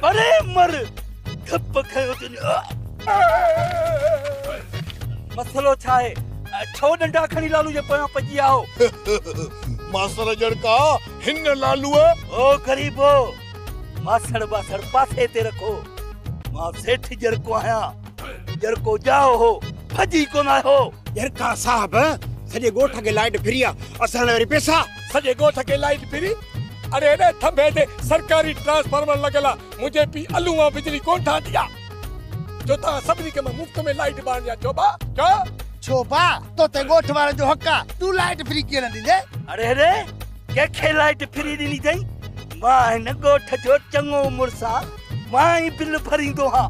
پري مر ڊپ کنيو تون مسئلو ڇا آهي ڇو ڏنڊا کڻي لالو جي پويان پڄي ويا آهو ماسر ڄڻڪا هن لالو او غريبو ماسڙ ٻاسڙ پاسي تي رکو مان سيٺ ڄرڪو آهيان ڄرڪو ڄائو هو ڀڄي ڪونه آيو ڄرڪا صاحب سڄي ڳوٺ کي لائٽ فري آ اسان لاء وري پئسا سڄي ڳوٺ کي لائيٽ فري. اڙي هيڏي ٿنڀي تي سرڪاري ٽرانسفارمر لڳل آ، منهنجي پيء الو وان بجلي ڪونه ٺاهندي آ، جو توهان سڀني کي مان مفت ۾ لائيٽ ٻارڻي آ جوڀا جو. جوڀا توتي ڳوٺ وارن جو حق آ، تون لائيٽ فري ڪيئن نه ڏيندين. اڙي هيڏي ڪنهن کي لائيٽ فري ڏني ٿئي، مان هن ڳوٺ جو چڱو مڙس آ، مان ئي بل ڀريندو هان.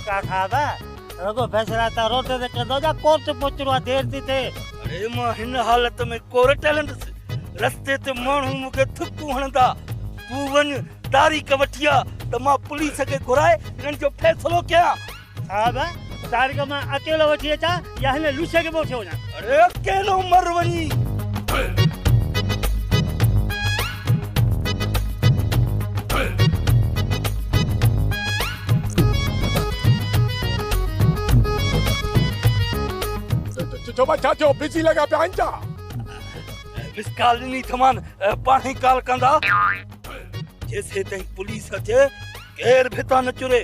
ڪاڪا صاحب رڳو فيصلا تان روٽ تي ڪندو جا ڪورٽ پهچڻو آ دير ٿي ٿئي. اڙي مان هن حالت ۾ ڪورٽ هلندس. رستي تي ماڻهو مون کي ٿڪون هڻندا. تون وڃ تاريخ وٺي آ ته مان پوليس کي گهرائي انهن جو فيصلو ڪيان. صاحب تاريخ مان اڪيلو وٺي اچان يا هن لوسي کي به وٺي وڃان. اي اڪيلو مر وڃي. ڇو ڀاء ڇا ٿيو بزي لڳا پيا آهن ڇا. مس ڪال ڏني اٿمان پاڻهي ڪال ڪندا. جيسيتائين پوليس اچي ڪير ڀت نه چري.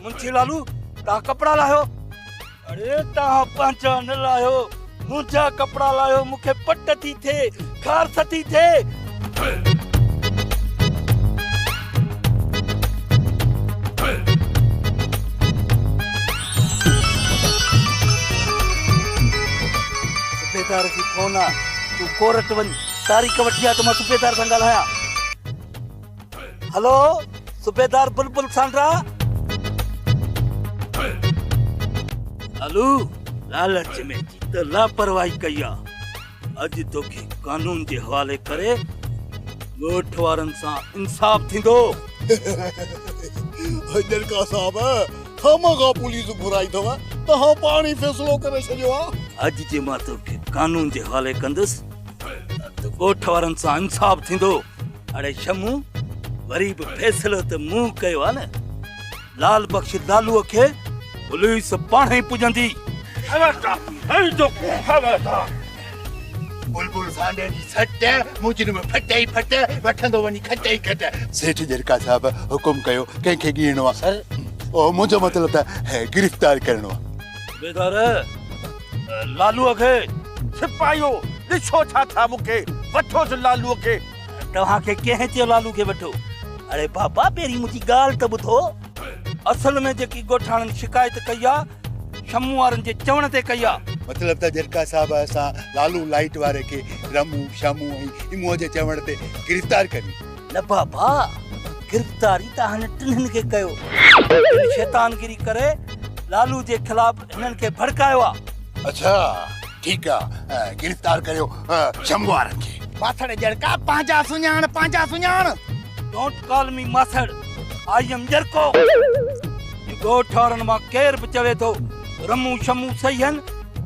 منشي لالو تان ڪپڙا لاهيو. اڙي توهان پنهنجا نه لاهيو منهنجا ڪپڙا لاهيو مون کي پٽ ٿي ٿئي خارس ٿي ٿئي. صوبيدار جي فون آ تون ڪورٽ وڃ تاريخ وٺي آ ته مان صوبيدار سان ڳالهايان. هلو صوبيدار بلبل سانڊرا. هلو لالچ ۾ ته لاپرواهي ڪئي آ. اڄ توکي قانون جي حوالي ڪري ڳوٺ وارن سان انصاف ٿيندو. جلڪا صاحب خامخا پوليس گهرائي ٿو توهان پاڻ ئي فيصلو ڪري ڇڏيو آ. اڄ جي مان توکي قانون جي حوالي ڪندس ته ڳوٺ وارن سان انصاف ٿيندو. اڙي شمون وري به فيصلو ته مون ڪيو آ نه لال بخش لالو کي پوليس پاڻ ئي پڄندي خبردار هي جو خبردار بلبل سانڊي جي سٽ مجرم ڦٽي ئي ڦٽ وٺندو وڃي کٽ ئي کٽ سيٺ جرڪا صاحب حڪم ڪيو ڪنهن کي ڳيڻو آ سر او منهنجو مطلب ته گرفتار ڪرڻو آ صوبيدار لالوء کي، سپاهيو! ڏسو ڇا ٿا مون کي، وٺوس لالوء کي. توهان کي ڪنهن چيو لالو کي وٺو؟ اڙي بابا پهرين منهنجي ڳالهه ته ٻڌو. اصل ۾ جيڪي ڳوٺاڻن شڪايت ڪئي آ، شمون وارن جي چوڻ تي ڪئي آ. مطلب ته جرڪا صاحب اسان لالو لائيٽ واري کي رمون، شمون ۽ اموء جي چوڻ تي گرفتار ڪريون. نه بابا، گرفتاري ته هن ٽنهن کي ڪيو. هن شيطانگيري ڪري لالو جي خلاف هنن کي ڀڙڪايو آ. اڇا ٺيڪ آ، گرفتار ڪريو شنڀو وارن کي. ماسڙ ڄرڪا پنهنجا سڃاڻ پنهنجا سڃاڻ. ڊونٽ ڪال مي ماسڙ آئي ايم ڄرڪو. هي ڳوٺ وارن مان ڪير به چوي ٿو رمون شمون سهي هن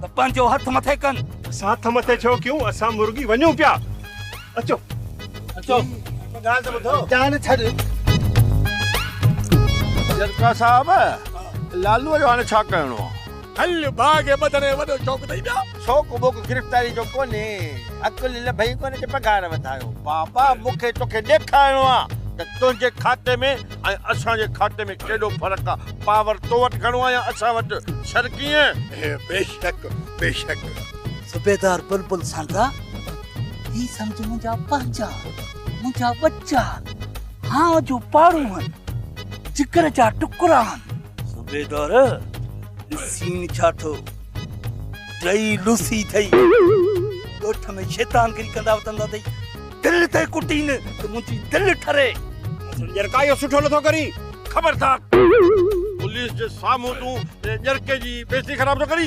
ته پنهنجو هٿ مٿي ڪن. اسان هٿ مٿي ڇو ڪيون، اسان مرڳي وڃون پيا. اچو اچو ڳالهه ته ٻڌو جان ڇڏ جرڪا صاحب لالو جو هاڻي ڇا ڪرڻو آ هل باغ ٻڌڻي وڏو شوق اٿئي ٻيا شوق ووق گرفتاري جو ڪونهي عقل لڀئي ڪونه ته پگهار وڌايو بابا مون کي توکي ڏيکارڻو آ ته تنهنجي کاتي ۾ ۽ اسان جي کاتي ۾ ڪيڏو فرق آ پاور تو وٽ گهڻو آ يا اسان وٽ شر ڪيئن بيشڪ بيشڪ صوبيدار بلبل سانگا هي سمجهه منهنجا پنهنجا منهنجا ٻچا هانء جو پاڙو هن جگر جا ٽڪرا هن صوبيدار سين ڇا ٿو ٽئي لوسي ٿئي ڳوٺ ۾ شيطان گري ڪندا وتندا ٿئي دل ته ڪٽين ته منهنجي دل ٺري ڄرڪايو سٺو نٿو ڪري خبردار پوليس جي سامهون تون ڄرڪي جي بيزتي خراب ٿو ڪري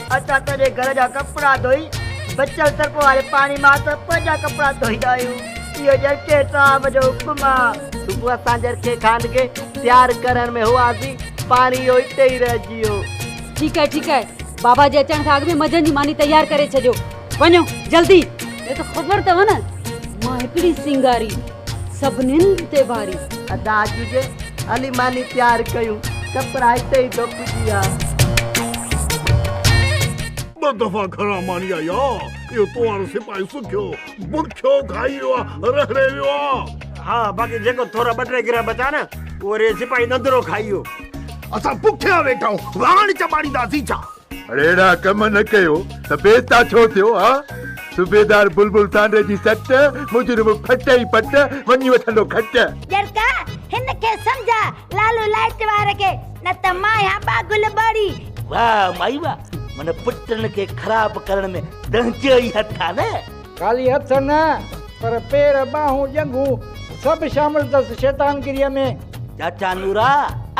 اسان تڏهن گهر جا ڪپڙا ڌوئي بچيل سرف واري پاڻي مان ته پنهنجا ڪپڙا ڌوئيندا آهيون. اهو جرڪي صاحب جو حڪم آ. صبح اسان جرڪي خان کي تيار ڪرڻ ۾ هئاسين، پاڻي اهو اتي ئي رهجي ويو. ٺيڪ آهي ٺيڪ آهي، بابا جي اچڻ کان اڳ ۾ منجهند جي ماني تيار ڪري ڇڏيو. وڃو جلدي نه ته خبر اٿو نه مان هڪڙي سينگاري سڀنين تي باري. ادا اڄ جي علي ماني تيار ڪيون ڪپڙا هتي ئي ڌپ جي آ. ٻه دفعا گهران ماني آئي آ اهو تو وارو سپاهي سکيو برکيو کائي ويو آ رهڙي ويو آ. ها باقي جيڪو ٿورا ٻه ٽي گرهه بچا نه اهي سپاهي نندرو کائي ويو. اسان بکيا ويٺا آهيون واڻ چٻاڙينداسين ڇا. اھڙا ڪم نه ڪيو ته بيتا ڇو ٿيو ها؟ صوبيدار بلبل سانڊري جي سٽ، مجرم ڦٽ ئي پٽ، وڃي وٺندو کٽ. ڄرڪا، ھن کي سمجھاء لالو لائٽ وار کي، نه ته مان آھيان ٻاگل ٻاڙي. واھ مائي واھ، معنيٰ پٽن کي خراب ڪرڻ ۾ تنھنجو ئي ھٿ آ نه؟ خالي ھٿ نه، پر پير، ٻانھون، ڄنگھون سڀ شامل تس شيطانگريء ۾. چاچا نورا،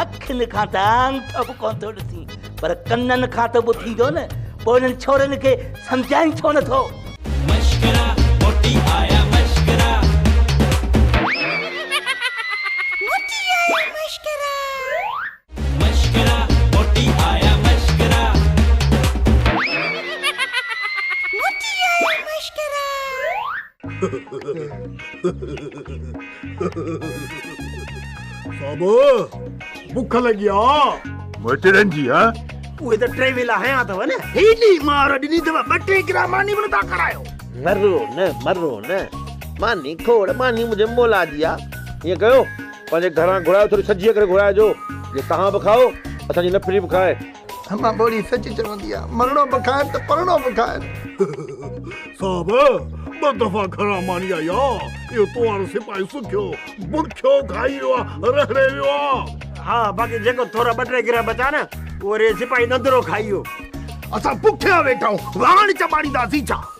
اکين کان ته آڱٺو به ڪونه ٿو ڏسين. پر ڪنن کان ته ٻڌيندو نه پوء انهن ڇورين کي سمجهائين ڇو نه ٿو. مشڪرا موٽي آيا مشڪرا. موٽي آيا مشڪرا. مشڪرا موٽي آيا مشڪرا. موٽي آيا مشڪرا. صاحب بک لڳي آ مچرن جي ها اهي ته ٽي ويلا هيا اٿو نه هيڏي مار ڏني اٿو ٻه ٽي گرا ماني به نٿا کارايو مرو نه مرو نه ماني کوڙ ماني مجھے مولا جي آ ائين ڪيو پنهنجي گھران گھرايو ٿوري سجيء ڪري گھرائجو جي توهان به کائو اسان جي نفري به کائي امان ٻوڙي سچ چوندي آ مرڻو به کائن ته پرڻو به کائن. صاحب ٻه دفعا گهران ماني آئي آ اهو تو وارو سپاهي سکيو برکيو کائي ويو آ رهڙي ويو آ. ها باقي جيڪو ٿورا ٻه ٽي گرهه بچا نه اهو ري سپاهي نندرو کائي ويو. اسان بکيا ويٺا آهيون واڻ چٻاڙينداسين ڇا.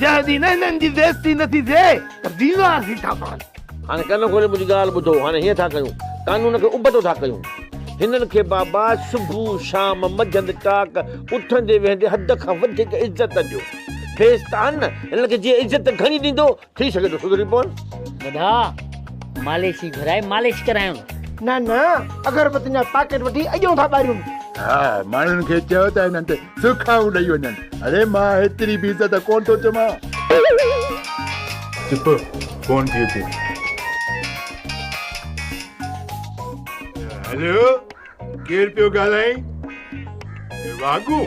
جنهن ڏينهن هنن جي بيعزتي نه ٿي ٿئي ته بيمار ٿي ٿا پون. هاڻي ڪن کولي منهنجي ڳالهه ٻڌو. هاڻي هيئن ٿا ڪيون. قانون کي ابتو ٿا ڪيون. هنن کي بابا صبح، شام، منجهند ٽاڪ، اٿندي ويهندي حد کان وڌيڪ عزت ڏيو. ٺيس ته آهن نه. هنن کي جيئن عزت گهڻي ڏيندو ٿي سگهي ٿو سڌري پون. ٻڌا ماليشي گهرائي مالش ڪرايون. نه نه اگر به تنهنجا پاڪيٽ وٺي اڄون ٿا ٻاريون. ها ماڻهن کي چئو ته هنن تي سرخائون ڏئي وڃن. اڙي مان هيتري به عزت ڪونه ٿو چوان. چپ ڪونه ٿي اچي. هلو ڪير پيو ڳالهائين واگون.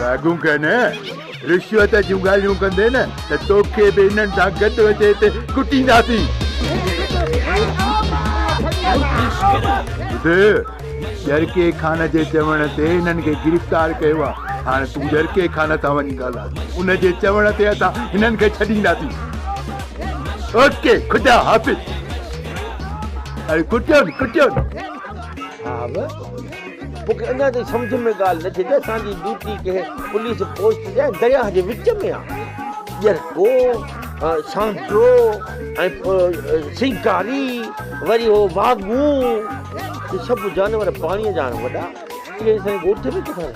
واڳون ڪن رشوت جون ڳالهيون ڪندي نه ته توکي به انهن سان گڏ وٺي هتي ڪٽينداسين ٻڌ جرڪي خان جي چوڻ تي هنن کي گرفتار ڪيو آ هاڻ تون جرڪي خان سان وڃي ڳالهاء ان جي چوڻ تي اسان هنن کي ڇڏينداسين اوڪي خدا حافظ اري ڪٽيون ڪٽيون صاحب مون کي اڃا تائين سمجهه ۾ ڳالهه نه ٿي ته اسان جي ڊيوٽي ڪنهن پوليس پوسٽ جي درياهه جي وچ ۾ آهي ڄرڪو سانترو ۽ سيڪاري وري هو واگو هي سڀ جانور پاڻي جا آهن وڏا اهي سائين ڳوٺ ۾ ڪٿا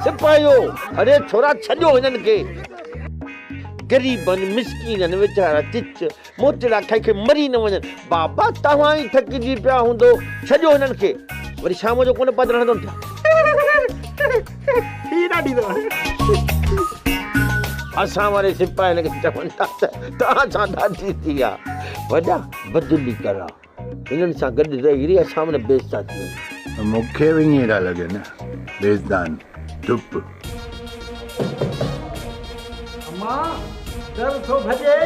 سپاهيو اڙي ڇورا ڇڏيو هنن کي غريبن مسڪينن ويچارا چچ موتيڙا کائي کائي مري نه وڃن. بابا توهان ئي ٿڪجي پيا هوندو. ڇڏيو هنن کي. وري شام جو ڪونه پڌر هڻندو نه ٿا. اسان واري سپاهين کي چون ٿا ته توهان سان ڏاڍي ٿي آ. وڏا بدلي ڪرا. انهن سان گڏ رهي رهي اسان به نه بيس ٿا ٿي وڃون. مون کي به ائين ٿا لڳن بيسدان چپ. امان ڊر ٿو ڀڄي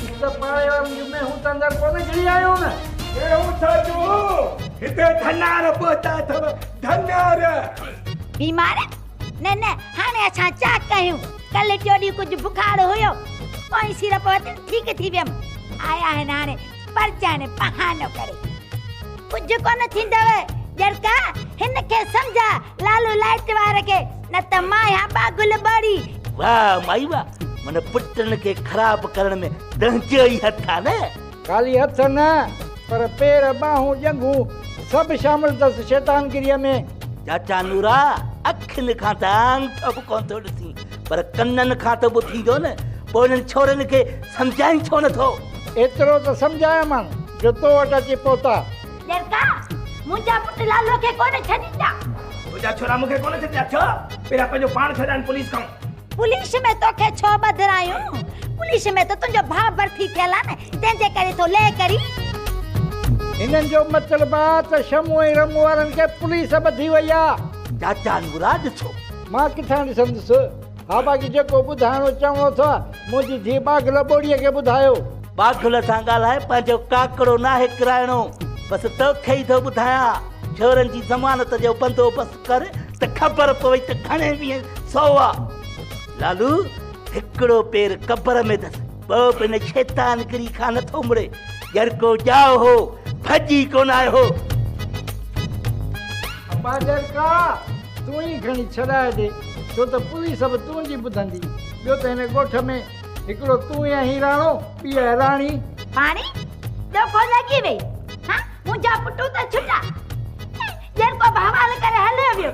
هڪ ته پاڙي وارن جون مينهون ته اندر ڪونه گهڙي آيون نه. مينهون ڇا جون هتي ڌنار پهتا اٿو ڌنار. بيمار نه نه هاڻي اسان ڇا ڪيون ڪلهه ٽيو ڏينهن ڪجهه بخار هيو پوئين سيرپ وتي ٺيڪ ٿي ويم آيا آهن هاڻي. پرچائڻ بهانو ڪري ڪجهه ڪونه ٿيندو ڄرڪا هن کي سمجهاء لالو لائٽ وار کي نه ته مان يا با گل ٻوڙي. واه مائي واه من پٽن کي خراب ڪرڻ ۾ تنهنجو ئي هٿ آ نه. خالي هٿ نه پر پير ٻانهون ڄنگهون سڀ شامل اٿس شيطانگريء ۾. چاچا نورا اکين کان ته آڱٺو به ڪونه ٿو ڏسين. پر ڪنن کان ته ٻڌيندو نه، پوء انهن ڇورن کي سمجهائين ڇو نه ٿو؟ ايترو ته سمجهايومان جو تو وٽ اچي پهتا. ڏيرڪا، منهنجا پٽ لالو کي ڪونه ڇڏيندا. تنهنجا ڇورا مون کي ڪونه ڇڏيندا ڇو؟ پهريان پنهنجو پاڻ ڇڏائين پوليس کان. پوليس ۾ توکي ڇو ٻڌرايون؟ پوليس ۾ ته تنهنجو ڀاء ڀرتي ٿيل آ نه، تنهن جي ڪري ٿو لئه ڪرين. هنن جو مطلب آ ته شمو ۽ رمو وارن کي پوليس ٻڌي وئي آ. چاچا نورا ڏسو. مان ڪٿان ڏسندس. ها باقي جيڪو ٻڌائڻو چوڻو اٿئو منهنجي ڌيء ٻاگهل ٻوڙيء کي ٻڌايو. ٻاگهل سان ڳالهائي پنهنجو ڪاڪڙو ناهي ڪرائڻو. بس توکي ئي ٿو ٻڌايان. ڇورن جي ضمانت جو بندوبست ڪر ته خبر پوي ته گهڻي ويهين سوئا. لالو هڪڙو پير قبر ۾ اٿس. ٻئو به ان شيطان گري کان نٿو مڙي ڄر ڪو ڄائو هو ڀڄي ڪونه آيو هو ابا ڄر ڪا تون ئي کڻي ڇڏائي ڏي ڇو ته پوليس به تنهنجي ٻڌندي ٻيو ته هن ڳوٺ ۾ هڪڙو تون ئي آهين راڻو ٻي آهي راڻي پاڻي ڏو ڪو لڳي وئي ها منهنجا پٽو ته ڇٽا ڄر ڪو بهوال ڪري هليو ويو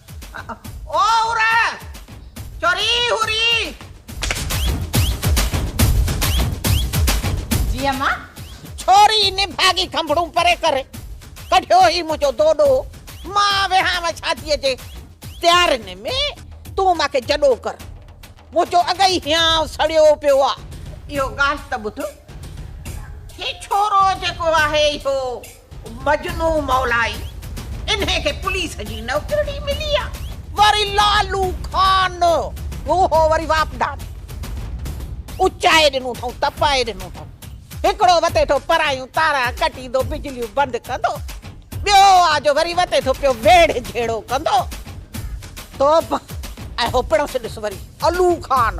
او هور چوري هوري. جي اما. ڇوري نڀاڳي کنڀڙون پري ڪري ڪڍيو هي منهنجو دوڏو مان ويهانء شاديء جي تيارين ۾ تون مان کي جڏو ڪر منهنجو اڳ ئي هيانء سڙيو پيو آ. اهو ڳالهه ته ٻڌ هي ڇورو جيڪو آهي اهو. مجنو مولائي انهي کي پوليس جي نوڪرڙي ملي آ. وري لالو خان اهو وري واپڊان اچائي ڏنو اٿئون تپائي ڏنو اٿئون هڪڙو وتيٺو پرايون تارا ڪٽيندو بجليون بند ڪندو ٻيو آ جو وري وتيٺو پيو ويڙهه جهيڙو ڪندو توبه اهو پڻس ڏس وري الو خان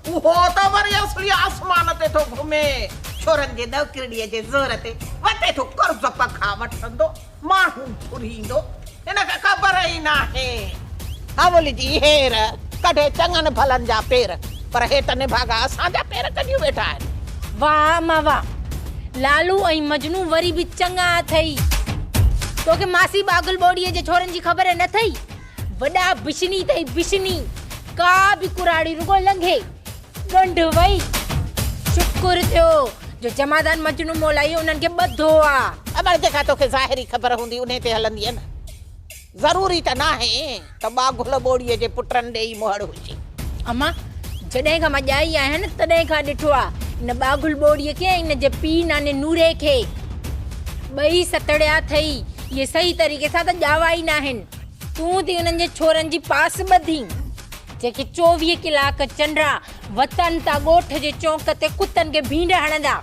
اهو ته وري اصلي آسمان تي ٿو گهمي. ڇورن جي ڏوڪرڙيء جي زور تي وتي ٿو قرض پکا وٺندو ماڻهو گهريندو. هن کي خبر ئي ناهي. هاول جي هير ڪڍي چڱن ڀلن جا پير، پر هي ته نڀاڳا اسان جا پير ڪڍيون ويٺا آهن. واهه اما واهه. لالو ۽ مجنون وري به چڱا اٿئي. توکي ماسي باگل ٻوڙيء جي ڇورن جي خبر نه اٿئي. وڏا بشني تائين بشني ڪا به ڪراڙي رڳو لنگهي ڳنڍ وئي شڪر ٿيو جو جمادان مجنو مولائي انهن کي ٻڌو آ اٻڙ جيڪا توکي ظاهري خبر هوندي انهي تي هلندينء نه ضروري ته ناهي ته ٻاگهل ٻوڙي جي پٽن ڏي ئي مهڙ هجي. اما جڏهن کان مان ڄائي آهيان نه تڏهن کان ڏٺو آ ان ٻاگهل ٻوڙي کي ۽ ان جي پيء ناني نوري کي ٻئي ستڙيا اٿئي اهي صحيح طريقي سان ته ڄاوا ئي ناهن. تون ٿي انهن جي ڇورن جي پاس ٻڌي، جيڪي چوويهه ڪلاڪ چنڊا وتن تان ڳوٺ جي چونڪ تي ڪتن کي ڀينڊ هڻندا.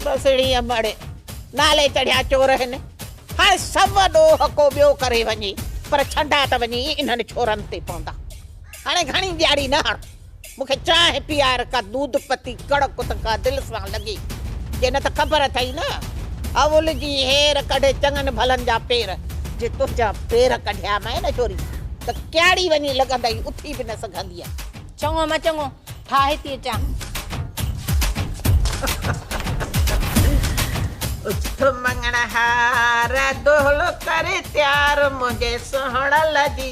بسڙي امڙ نالي چڙهيا چور هن. هاڻ سو ڏوهه ڪو ٻيو ڪري وڃي پر ڇنڊا ته وڃي ئي انهن ڇورن تي پوندا. هاڻي گهڻي ڏياڙي نه هڻ. مون کي چانهه پيار ڪا دود پتي ڪڙ ڪت ڪا دل سان لڳي جي نه ته خبر اٿئي نه اول جي هير ڪڍي چڱن ڀلن جا پير جي تنهنجا پير ڪڍيا مئي نه ڇوري ته ڪياڙي وڃي لڳندئي اٿي به نه سگهندينء. چڱو مئي چڱو ٺاهي ٿي اچان. اٿ مڱڻهار دهل ڪري تيار منهنجي سهڻل جي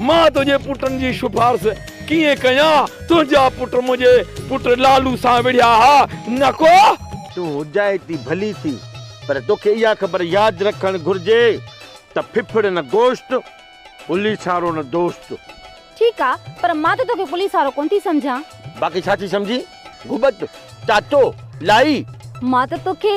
مان تنهنجي پٽن جي شفارس ڪيئن ڪيان؟ تنهنجا پٽ منهنجي پٽ لالو سان وڙهيا ها، نه ڪو؟ تون هجائي ٿي ڀلي ٿي، پر توکي اها خبر ياد رکڻ گهرجي ته ڦڦڙ نه گوشت، پوليسارو نه دوست. ٺيڪ آ، پر مان ته توکي پوليسارو ڪونه ٿي سمجهان. باقي ڇا ٿي سمجهين؟ گهٻت، چاچو، لائي. مان ته توکي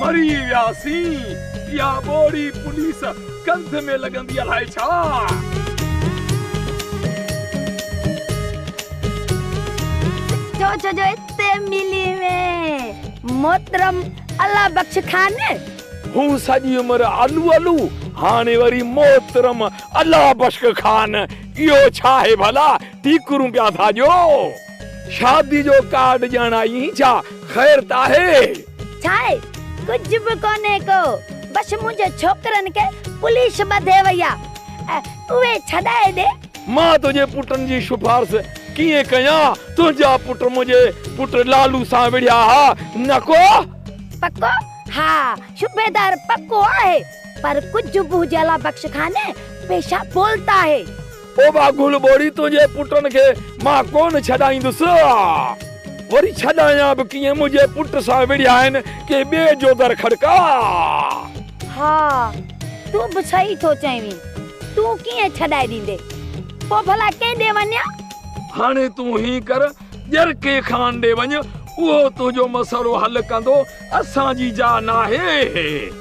مري ويا سين اها ٻوڙي پوليس ڪنڌ ۾ لڳندي الائي ڇا. سوچ جو اتي ملي ۾ محترم الله بخش خان. هو سڄي عمر الو الو هاڻي وري محترم الله بخش خان اهو ڇا آهي ڀلا ٺيڪرون پيا ٿا ڏيو. شادي جو ڪارڊ ڏيڻ آئي اين ڇا خير ته آهي. ڇاهي ڪجهه به ڪونهي ڪو بس منهنجي ڇوڪرن کي پوليس ٻڌي وئي آ اهي ڇڏائي ڏي. مان تنهنجي پٽن جي شفارس ڪيئن ڪيان تنهنجا پٽ منهنجي پٽ لالو سان وڙهيا ها نه ڪو. پڪو ها صوبيدار پڪو آهي پر ڪجهه به هجي الله بخش خانه پيشا بولتا هي. پوء واگهڙ ٻوڙي تنهنجي پٽن کي مان ڪونه ڇڏائيندس. آء وري ڇڏايان به ڪيئن؟ منهنجي پٽ سان وڙهيا آهن ڪنهن ٻئي جو در کڙڪاء. ها، تون به صحيح ٿو چوين. تون ڪيئن ڇڏائي ڏيندين؟ پوء ڀلا ڪنهن ڏي وڃان؟ هاڻي تون هيئن ڪر، ڄرڪي خان ڏي وڃ، اهو تنهنجو مسئلو حل ڪندو، اسان جي جاء ناهي.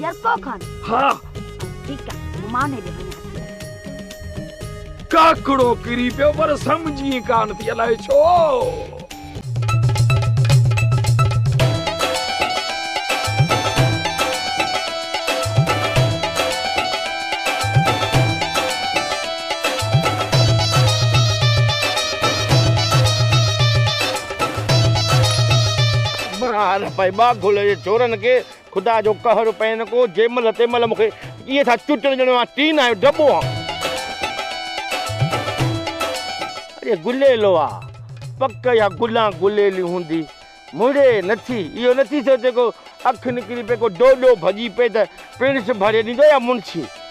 ڄرڪو کڻ. ها. ٺيڪ آ. مان هيڏي وڃان ٿي. ڪاڪڙو ڪري پيو پر سمجهي ڪانه ٿي الائي ڇو. مان نه پئي ٻاگهل جي چورن کي. خدا جو قهر پين ڪو جي مهل تي مهل مون کي ائين ٿا چٽن ڄڻ مان ٽين آيو ڊٻو هان. اڙي گليلو آ پڪ اها گلان گليلي هوندي مڙي نٿي اهو نٿي سوچي ڪو اک نڪري پئي ڪو ڊوڏو ڀڄي پئي ته پڻس ڀري ڏيندو يا منشي.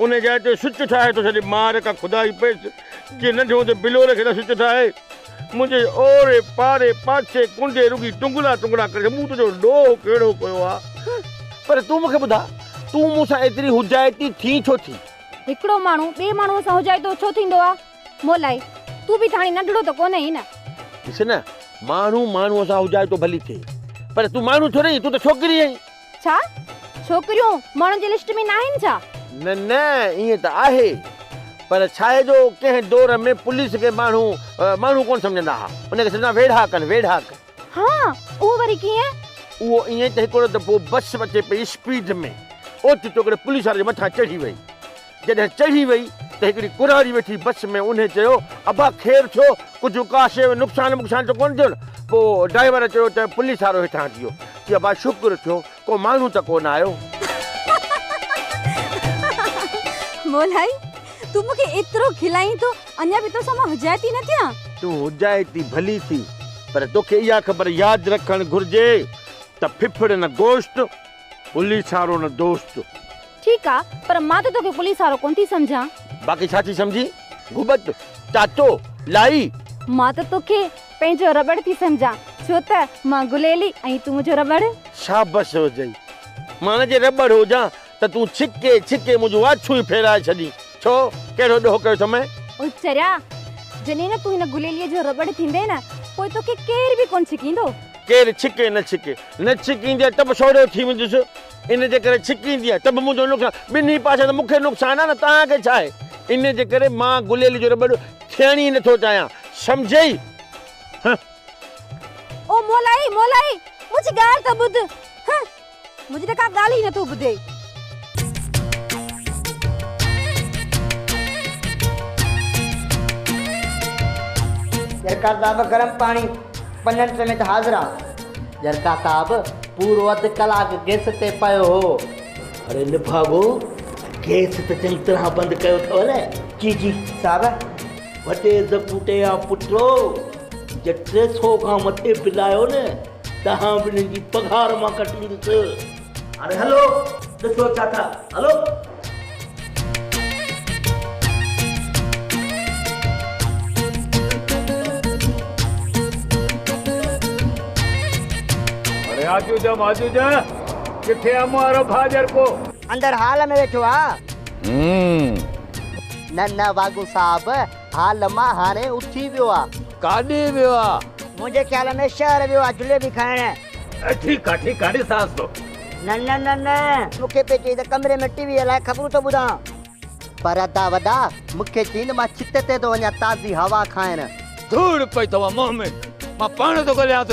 ان جاء تي سچ ٺاهي ٿو ڇڏي مار ڪا خدا ئي پيس جي ننڍي هوندي بلور کي نه سچ ٺاهي منهنجي اوري پاري پاڇي ڪنڊي رڳي ٽنگڙا ٽنگڙا ڪري مون تنهنجو ڏوهه ڪهڙو ڪيو آ پر تون مون کي ٻڌاء تون مون سان ايتري هجائتي ٿين ڇو ٿي. هڪڙو ماڻهو ٻي ماڻهوء سان هجائتو ڇو ٿيندو آ مولائي تون به ته هاڻي ننڍڙو ته ڪونه هين نه. ڏس نه ماڻهو ماڻهوء سان هجائتو ڀلي ٿئي پر تون ماڻهو ٿوري هين تون ته ڇوڪري هين. ڇا؟ ڇوڪريون ماڻهن جي لسٽ ۾ ناهن ڇا؟ نه نه ائين ته آهي پر ڇاهي جو ڪنهن دور ۾ پوليس کي ماڻهو ماڻهو ڪونه سمجهندا ها ان کي سمجهندا ويڙها ڪن ويڙها ڪن. ها اهو وري ڪيئن؟ اهو ائين ته هڪڙو دفعو بس اچي پئي اسپيڊ ۾ اوچتو هڪڙي پوليس واري جي مٿان چڙهي وئي جڏهن چڙهي وئي ته هڪڙي ڪنواري ويٺي بس ۾ انهي چيو ابا خير ٿيو ڪجهه ڪا شيء ۾ نقصان وقصان ته ڪونه ٿيو نه پوء ڊرائيور چيو ته پوليس وارو هيٺان اچي ويو چي ابا شڪر ٿيو ڪو ماڻهو ته ڪونه آيو. مولائي تون مون کي ايترو کلائين ٿو اڃا به توسان مان حجائتي نه ٿيان. تون حجائتي ڀلي ٿي پر توکي اها خبر ياد رکڻ گهرجي ته ڦڦڙ نه گوشت پوليسارو نه دوست. ٺيڪ آ پر مان ته توکي پوليسارو ڪون ٿي سمجهان. باقي ڇا ٿي سمجهين؟ گهٻت، تاتو، لائي. مان ته توکي پنهنجو رٻڙ ٿي سمجهان ڇو ته مان گليلي ۽ تون منهنجو رٻڙ. شابس هجئي. مان نه جي رٻڙ هجان ته تون ڇڪي ڇڪي منهنجون آڇون ئي ڦيرائي ڇڏين. ڇو؟ ڪهڙو ڏوهه ڪيو اٿم مئين؟ او چريا! جڏهن نه تون هن گليليء جو رٻڙ ٿيندين پوء توکي ڪير به ڪون ڇڪيندو. ڪير ڇڪي نه ڇڪي. نه ڇڪيندي آهي ته به سوڙهيو ٿي ويندس. ان جي ڪري ڇڪيندي آهي ته به منهنجو نقصان. ٻنهي پاسن مون کي نقصان آهي نه توهان کي ڇا آهي. ان جي ڪري مان گليل جو رٻڙ ٿيڻ ئي نه ٿو چاهيان. سمجهيئي؟ هنهن. او مولائي، مولائي! منهنجي ڳالهه ته ٻڌ. هنهن. منهنجي ته ڪا ڳالهه ئي نٿو ٻڌي. جرڪا صاحب گرم پاڻي پنن سميت حاضر آ. جرڪا صاحب پورو اڌ ڪلاڪ گيس تي پيو هو. اڙي نڀاڳو گيس ته چڱي طرح بند ڪيو اٿو نه. جي جي صاحب. وڏي زپوٽي آ پٽو جي ٽي سو کان مٿي بل آيو نه. تهان به هنن جي پگهار مان ڪٽيندس. هاڻي هلو ڏسو ڇا ٿا هلو. ياجوج ۽ ماجوج ڪٿي امون وارو ڀاء جرڪو. اندر هال ۾ ويٺو آ. نه نه واگون صاحب. ها لما هاڻي اٿي ويو آ. ڪاڏي ويو آ؟ منهنجي خيال ۾ شهر ويو آ جليبي کائڻ. ٺيڪ آ ٺيڪ آ ڏسانس ٿو. نه نه نه نه مون کي پئي چئي ته ڪمري ۾ ٽي وي هلائي خبرون ٿو ٻڌان. پر ادا وڏا مون کي چئين مان ڇت تي ٿو وڃان تازي هوا کائڻ. ڌوڙ پئي ٿوان منهن ۾ مان پاڻ ٿو ڳوليانس.